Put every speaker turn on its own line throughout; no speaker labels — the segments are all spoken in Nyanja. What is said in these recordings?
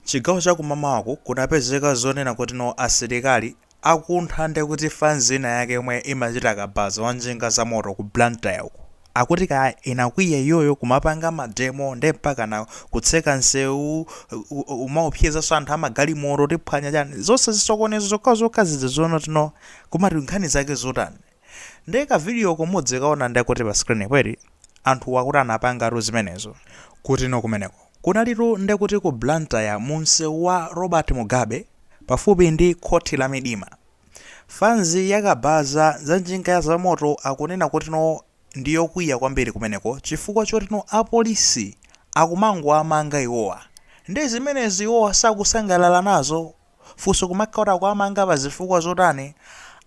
Chigawo cha kumamawaku kunapezeka zonena kuti no asilikali akuntha ndekuti fanzi ina yake yomwe imachita kabaza wa njinga za moto ku Blantyre uko akuti kaya inakwiya iyoyo kumapanga ma demo nde mpakana kutseka nsewu kumaopsezanso anthu amagalimoto tiphwanya chani zonse zisokonezo zokhazokha zija zonena kuti no kumati nkhani zake zotani Nde ka video ko mudzikaona ndekuti pa screen po eti anthuwa akuti anapangatu zimenezo kuti no kumeneko kunalitu ndekuti ku Blantyre mu msewu wa Robert Mugabe pafupi ndi khothi la midima fans yakabaza za njinga ya zamoto akunena kuti no ndi yokwiya kwambiri kumeneko chifukwa choti no apolisi akumangowamanga iwowa nde zimenezi iwowa sakusangalala nazo Funso kumakhala kuti akuwamanga pa zifukwa zotani?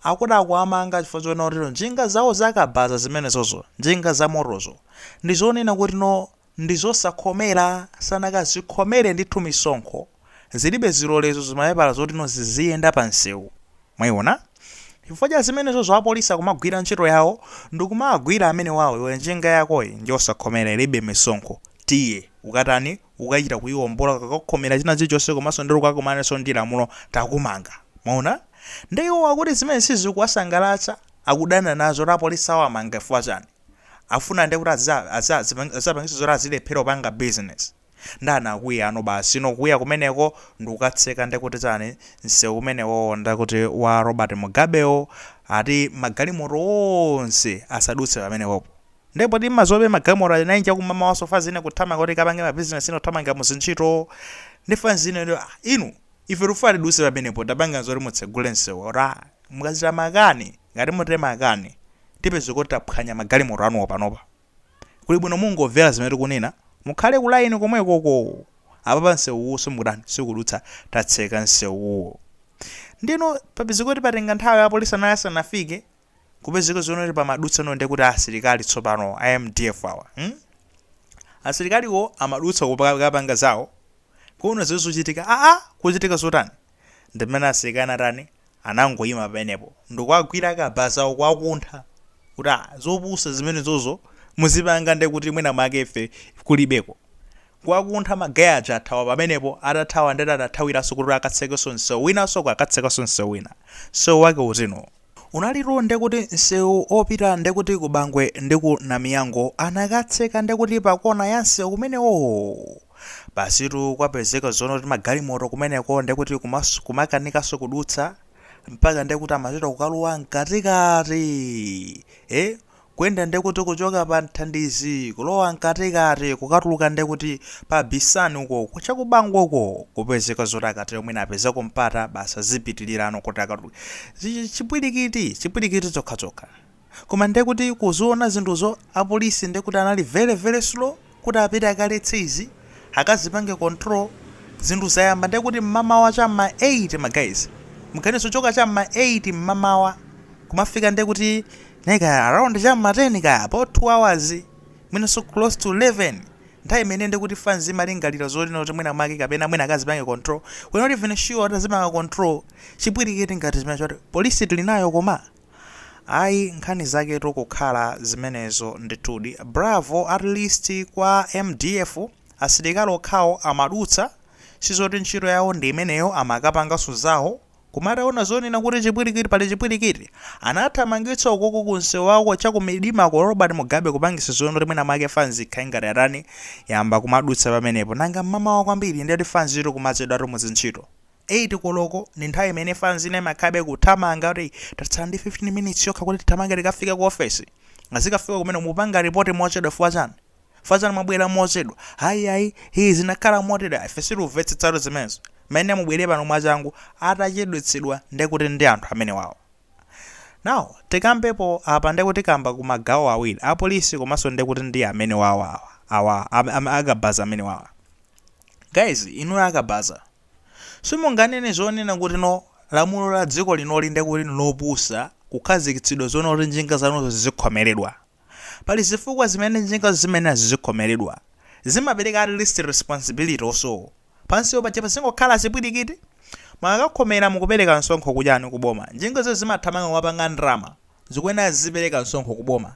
Akuti akuwamanga chifukwa chonena kuti njinga zawo za kabaza zimenezozo, njinga za motozo, ndi zonena kuti no ndi zosakhomera, sanakazikhomere ndithu misonkho, zilibe zilolezo, zimapepala zoti no ziziyenda pa msewu. Mwaiona? Chifukwa cha zimenezo apolisi akumagwira ntchito yawo ndi kumawagwira amenewawo, iwe njinga yakoyi ndiyosakhomera ilibe misonkho, tiye, ukatani, ukachita kuiombola ukakakhomera china chilichonse komanso nde ukakumanenso ndi lamulo takumanga mwaona nde iwo akuti zimene sizikuwasangalatsa akudana nazo kuti apolisi awamanga chifukwa chani afuna nde kuti aziza- aziza- azipang- azapangisa zoti azilephera kupanga business nde anakwiyano basi no kuya kumeneko ndikukatseka nde kuti chani msewu umenewowo nde kuti wa robert mugabewo ati magalimoto onse asadutse pamenepopo Nde poti mazobe magalimoto a 9 chakumamawa so fans ina kuthamanga kuti kapange ma business ina kuthamanga mu zintchito ndi fans ina ndi ah, inu ife tikufuna tidutse pamenepo tapanga zoti mutsegule msewu ora mukachita makani ngati mutere makani tipeze kuti taphwanya magalimoto anuwo panopa kuli bwino mungomvera zimene tikunena mukhale ku line komwekoko apapa msewuwu simukutani sikudutsa tatseka msewuwo ndeno papeze kuti patenga nthawi apolisi anali asanafike kupezeka zonena kuti pamadutsa no ndekuti asilikali tsopano a MDF awa hmm? asilikaliwo amadutsa kupanga zawo kuona zimene zikuchitika aa kuchitika zotani ndimene asilikali anatani anangoyima pamenepo ndikuagwira akabazawo kuwakuntha kuti "Ah, zopusa zimenezozo muzipanga ndekuti mwina mwake ife kulibeko kuwakuntha magaya aja athawa pamenepo atathawa nde adathawiranso kuti akatsekenso msewu winanso akatsekanso msewu wina msewu wake uti no Unalitu ndekuti nsewu opita ndekuti ku Bangwe ndi ku Namiyango anakatseka ndekuti pa kona ya nsewu umenewo! Basitu kwapezeka zonena kuti magalimoto kumeneko ndekuti kumas kumakanikanso kudutsa mpaka ndekuti amachita kukalowa mkatikati! Eeh! Kuyenda ndekuti kuchoka pa Nthandizi kulowa mkatikati kukatulukira ndekuti pa Bisani uko chakubangoko kupezeka zoti akatero mwina apezako mpata basi azipitilirano kuti akatuluke chipwilikiti chipwilikiti chokhachokha koma ndekuti kuziona zinthuzo apolisi ndekuti anali very very slow. kuti apite akaletse izi akazipange control zinthu zayamba ndekuti mmamawa cha mma 8 ma guys muganize kuchoka cha mma 8 mmamawa kumafika ndekuti nayi kaya around cha mma 10 kaya about 2 hours mwinanso close to 11 nthawi imene ndekuti fans imalingalira zonoti mwina make kapena mwina akazipange control we're not even sure atazipanga control chipwirikiti ngati zimene choti polisi tili nayo koma Ayi nkhani zaketu kukhala zimenezo ndithudi. Bravo at least kwa mdf asilikali okhawo amadutsa sizoti ntchito yawo ndi imeneyo amakapanganso zawo koma ataona zonena kuti chipwilikiti pali chipwilikiti anathamangitsa ukoko kumsewu wako cha ku Midima ku Robert Mugabe kupangisa zonoti mwina mwake fanzi ikhale ngati yatani yayamba kumadutsa pamenepo nanga mmamawa kwambiri ndiye kuti fanzitu kumachedwatu mu zintchito 8 koloko ndi nthawi imene fans ina imakhalabe kuthamanga kuti tatsala ndi 15 minutes yokha kuti tithamange tikafike ku office. Azikafika kumeneko mupanga report mochedwa fukwa chani? Fukwa chani mwabwera mochedwa? Ayi ayi hii zinakhala motere ife sitikumvetsetsa zimenezo. Mmene mubwere pano mwachangu atachedwetsedwa ndekuti ndi anthu amenewawa. Now tikambepo apa ndekuti tikamba ku magawo awiri a police komanso ndekuti ndi amenewawa awa. Awa a kabaza amenewawa. Guys inuyo a kabaza. Simunganene zonena kuti no lamulo la dziko linoli nde kuti nlopusa kukhazikitsidwa zonoti njinga zanuzo zizikhomeredwa. Pali zifukwa zimene njingazo zimayenera zizikhomeredwa. Zimapereka at least responsibility also. Pansipo paja pazingokhala chipwirikiti? Mukakakhomera mukupereka msonkho kuchani, kuboma? Njingazo zimathamanga kumapanga ndalama. Zikuyenera zizipereka msonkho kuboma.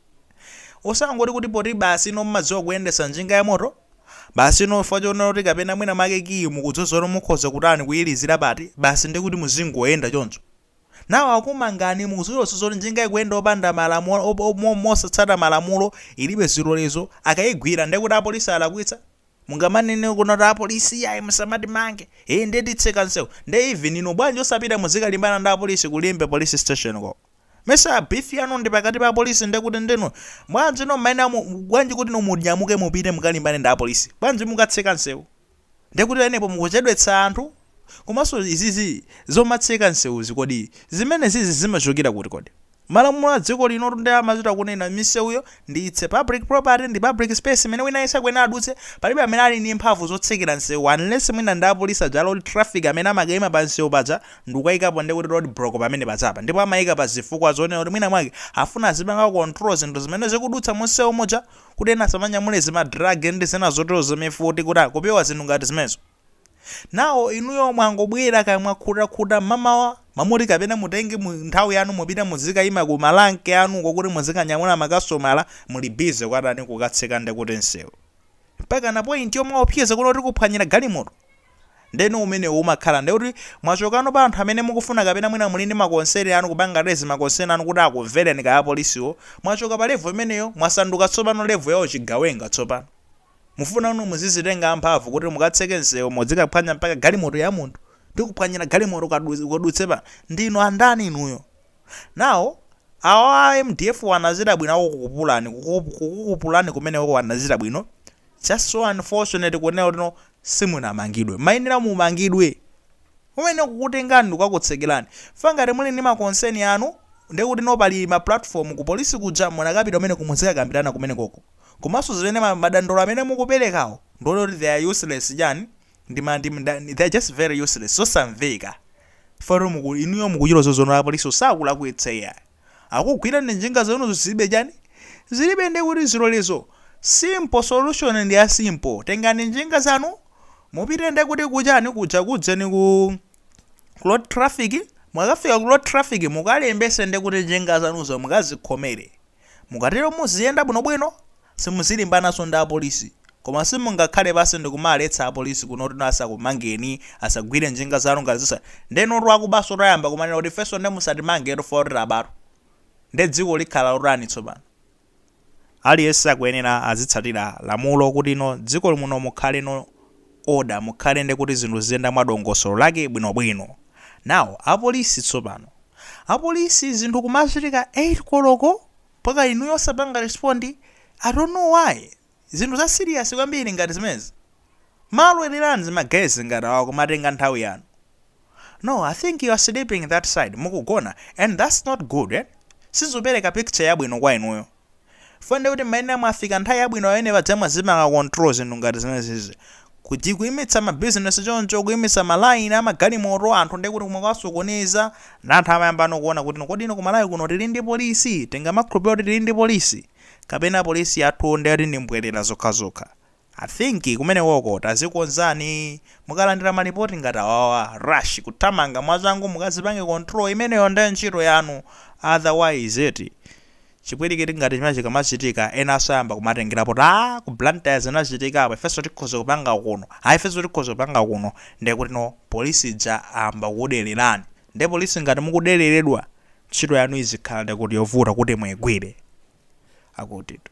Osangoti kuti poti basi inu mmadziwa kuyendesa njinga ya moto Basi inu chifukwa chonena kuti kapena mwina mwake kiyi mukhoza mukhoza kutani kuyilizira eti basi nde kuti muzingoyenda choncho Now akumangani mukudziwanso zoti njinga ikuyenda opanda malamulo mosatsata malamulo ilibe zilolezo akayigwira nde kuti apolisi alakwitsa? Mungamanene zonoti apolisi iyayi musamatimange nde titseka nsewu nde even inu bwanji osapita muzikalimbana ndi apolisi ku Limbe police station ko. Mesa beef yanu ndi pakati pa apolisi ndekuti ndinu bwanji inu mmayenera mu, bwanji kuti inu munyamuke mupite mukalimbane ndi apolisi bwanji mukatseka nsewu ndekuti pamenepo mukuchedwetsa anthu komanso izizi zomatseka nsewuzi kodi zimenezizi zimachokera kuti kodi? Malamulo a dziko linotu nde amachita kunena misewuyo ndi its public property ndi public space imene wina aliyense akuyenera adutse, palibe amene ali ndi mphamvu zotsekera msewu unless mwina ndi apolisi aja a road traffic amene amakaima pa msewu paja ndikukaikapo ndikuti road block pamene pajapa ndipo amaika pa zifukwa zonena kuti mwina mwake afuna azipanga control zinthu zimene zikudutsa mu msewu muja kuti ena asamanyamule zima drug ndi zina zoterozo mifuti kuti kupewa zinthu ngati zimenezo. Nawo inuyo mwangobwera kaya mwakhuta khuta mmamawa, mmalo moti kapena mutenge nthawi yanu mupite muzikayima ku ma rank anuko kuti muzikanyamula ma kasitomala muli busy kwatani kukatseka nde kuti nsewu. Mpakana point yomaopseza kunena kuti tikuphwanyira galimoto. Ndeno umenewo umakhala nde kuti mwachokano pa anthu amene mukufuna kapena mwina muli ndi ma concern anu kupanga raise ma concern anu kuti akumvereni kaya apolisiwo, mwachoka pa level imeneyo mwasanduka tsopano level ya uchigawenga tsopano. Mufuna inu muzizitenga amphamvu kuti mukatseke msewu mudzikaphwanya mpaka galimoto ya munthu? Tikuphwanyira galimoto ukadu, ukadutse pa. Ndinu andani inuyo? Nawo awa a mdf wo anachita bwino akukukupulani, kukuku, kukukupulani kumenekoko anachita bwino, just so unfortunate kunena kuti no simunamangidwe. Mmayenera mumangidwe. Mumayenera kukutengani ndikakutsekerani. Chifukwa ngati muli ndi ma concern anu, ndekuti no pali ma platform ku police kuja munakapita kumeneko mudzikakambirana kumenekoko. komanso zimene madandaulo amene mukuperekawo ndikuona kuti they are useless chani ndi ma ndi mda they are just very useless zosamveka chifukwa choti muku inuyo mukuchita zozondoka apolisiwo sakulakwitsa iyayi akugwirani njinga zanuzo zilibe chani zilibe ndiye kuti zilolezo simple solution ndi ya simple tengani njinga zanu mupite ndiye kuti kuchani kuja kujeni ku ku road traffic mukafika ku road traffic mukalembese ndiye kuti njinga zanuzo mukazikhomere Mukatero muziyenda bwinobwino, simuzilimbananso ndi apolisi. Koma simungakhale pansi ndikumaletsa apolisi kunena kuti asakumangeni, asagwire njinga zanu ngati zisa. Nde inutu akubansotu ayamba kumanena kuti ifenso nde musatimangetu chifukwa choti tabatu. Nde dziko likhala lotani tsopano? Aliyense akuyenera azitsatira lamulo kuti no dziko muno mukhale no order mukhale nde kuti zinthu ziziyenda mwa dongosolo lake bwino bwino now apolisi tsopano apolisi zinthu kumachitika 8 koloko mpaka inuyo osapanga respond i don't know why zinthu za serious kwambiri ngati zimenezi mumalolereranji zima guys ngati awa kumatenga nthawi yanu no i think you are sleeping that side mukugona and that's not good eh sizikupereka picture yabwino kwa inuyo chifukwa ndiye kuti mumayenera mwafika nthawi yabwino pamene paja mwazipanga control zinthu ngati zimenezizi kuti kuimitsa ma business choncho kuimitsa ma line ama galimoto anthu ndiye kuti kumakasokoneza ndi anthu amayambano kuona kuti kodi ino ku Malawi kuno tili ndi polisi tingamakhulupirire kuti tili ndi polisi kapena polisi yathu ndiye kuti ndi mbwerera zokhazokha I think kumenekoko tazikonzani, mukalandira ma report ngati awawa rush kuthamanga mwachangu mukazipange control imeneyo nde ntchito yanu otherwise eti chipwilikiti ngati chimenechi chikamachitika enanso ayamba kumatengera poti aah ku Blantyre zinachitika apo ifenso tikhoza kupanga kuno aah ifenso tikhoza kupanga kuno ndekutino police ija ayamba kukudererani nde police ngati mukudereredwa ntchito yanu izikhala ndekuti yovuta kuti muigwire akutitu